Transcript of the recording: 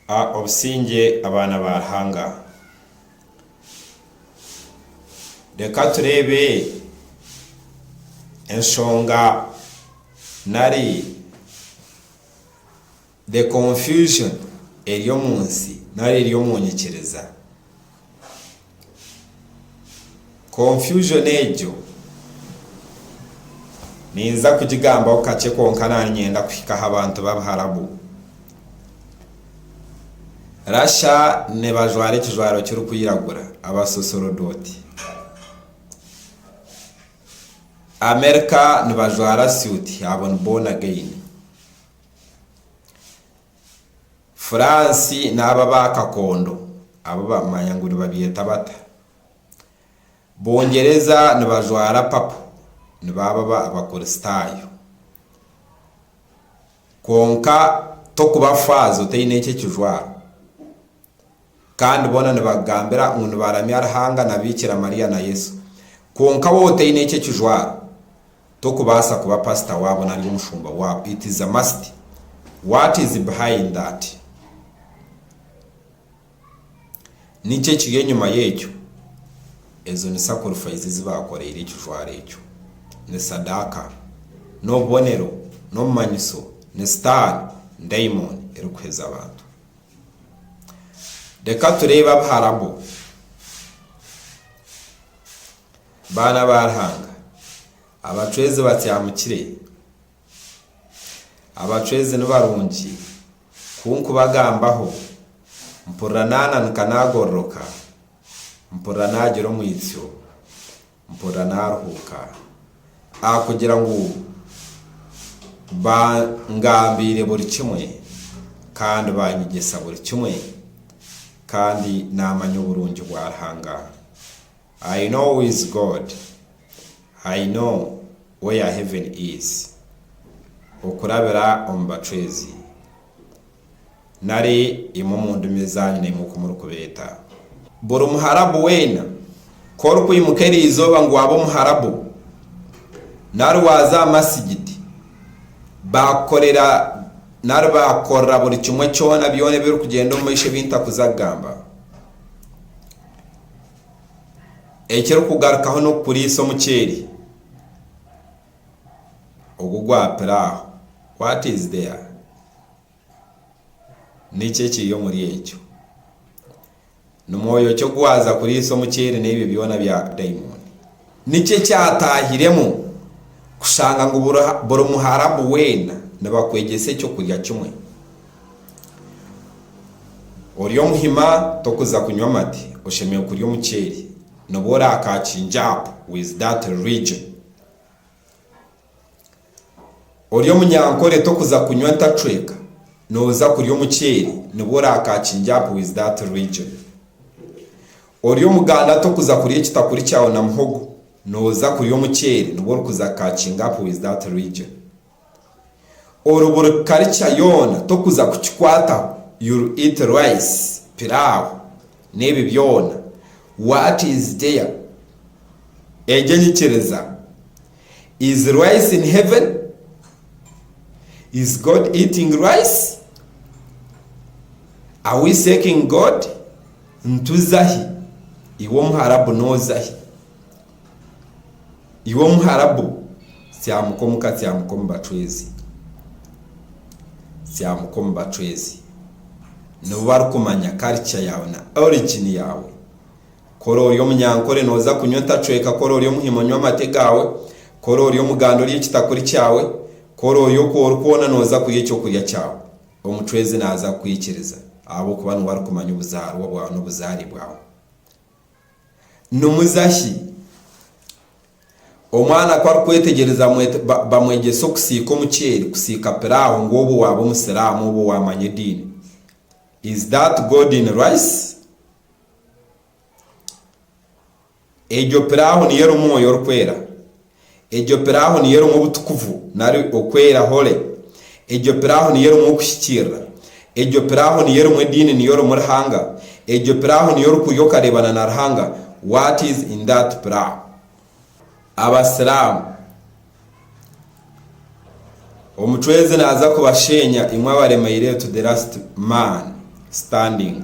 A Obusingye abaana ba Ruhanga. Reka tureebe enshonga nari the confusion eri omu nsi nari eri omu nyikiriza. Confusion egyo ninza kugigambaho kakye kwonka nari nyenda kuhika aha bantu b'abaharabu. Russia nibajwara ekijwaro kirikwiragura, abasosorodooti. America nibajwara suit, abo ni born again. Fransi n'abo abaakakondo, abu bamanya ngu nibabyeta bata, Bungyereza nibajwara papo nibaababa Abakuristaayo. Kwonka tokuba faaza otaine ekyo ekijwaro. kandi boona nibagambira ngu nibaramya Ruhanga na Biikira Mariya na Yesu. Kwonka waaba otaine ekyo ekijwaro, tokubaasa kuba pasita waabo nari omushumba waabo. It is a must. What is behind that? Niki ekiri enyima y'ekyo? Ezo ni sakurifaizi ezi baakoreire ekijwaro ekyo. Ni sadaaka. N'obubonero, n'obumanyiso, ni sitaani, daimoni, erikuheza abantu. Reka tureebe Abaharabu, baana ba Ruhanga, abacwezi batyamukire, abacwezi ni barungi, ku nkubagambaho, mpurira naananika naagororoka, mpurira naagira omwitsyo. Mpurira naaruhuuka ahakugira ngu bangambiire buri kimwe kandi baanyegyesa buri kimwe, kandi naamanya oburungi bwa Ruhanga. I know who is God, I know where heaven is, okurabira omu bacwezi. nari imwe omu ndimi ezaanyu naimwe oku murikubeeta. Buri Muharabu weena, ku orikwimuka eri izooba ngu waabe Omuharabu, nari waaza aha masigiti, baakukorera nari baakukorera buri kimwe kyona byona ebirikugyenda omu maisho ebi ntakuza kugamba, ekirikugarukaho n'okukuriisa omuceeri. ogu gwapire aho, what is there? Niki ekiri omuri ekyo? Ni mwoyo ki ogu waaza kuriisa omuceeri n'ebyo byona bya daimoni? Niki ekyataahiremu kushanga ngu buri muharabu weena nibakwegyesa eky'okurya kimwe? Ori omuhima, tokuza kunywa amate, oshemereire kurya omuceeri, noba ori aka Kinjaapu with that religion. Ori omunyankore tokuza kunywa ntacweka noza kurya omuceeri nibwo orakakingye aha mpuhi zi that region. Ori omuganda tokuza kurya ekitakuri kyawe na muhogo noza kurya omuceeri nibwo orikuza kukakinga aha mpuhi zi that region. Oru buri kukarica yoona tokuza kukikwataho you'll eat rice, piraawo n'ebi byoona what is there egyo enyikiriza is rice in heaven? Is God eating rice? Are we seeking God? Nituza ahi? Iwe omuharabu noza ahi? Iwe Omuharabu, tsyamuka omu katsyamo k'omu bacwezi, tsyamuka omu bacwezi, nibo barikumanya karica yaawe na origini yaawe. Ku oroori omunyankore, nooza kunywa entacweka, ku oroori omuhima, onywe amate gaawe, ku oroori omuganda, orye ekitakuri kyawe, ku oroori oku ori kwona, nooza kurya eky'okurya kyawe. Omucwezi naaza kukwikiriza ahabw'okuba niwe arikumanya obuzaarwa bwawe n'obuzaare bwawe. Nimuza shi? Omwana ku arikwetegyereza bamwegyese okusiika omuceeri, kusiika piraawo ngu obwo waaba omusiraamu, obwo waamanya ediini. Is that God in rice? Egyo piraawo niyo erimu mwoyo orikwera? Egyo pirawo niyo erimu obutukuvu, nari okwera hole. Egyo pirawo niyo erimu okuhikiirira. Egyo pirawo niyo erimu ediini niyo erimu Ruhanga. Egyo pirawo niyo orikuhurira okareebana na Ruhanga. What is in that pirawo? Abasiramu. Omucwezi naaza kubasheenya imwe abaremeire to the last man standing.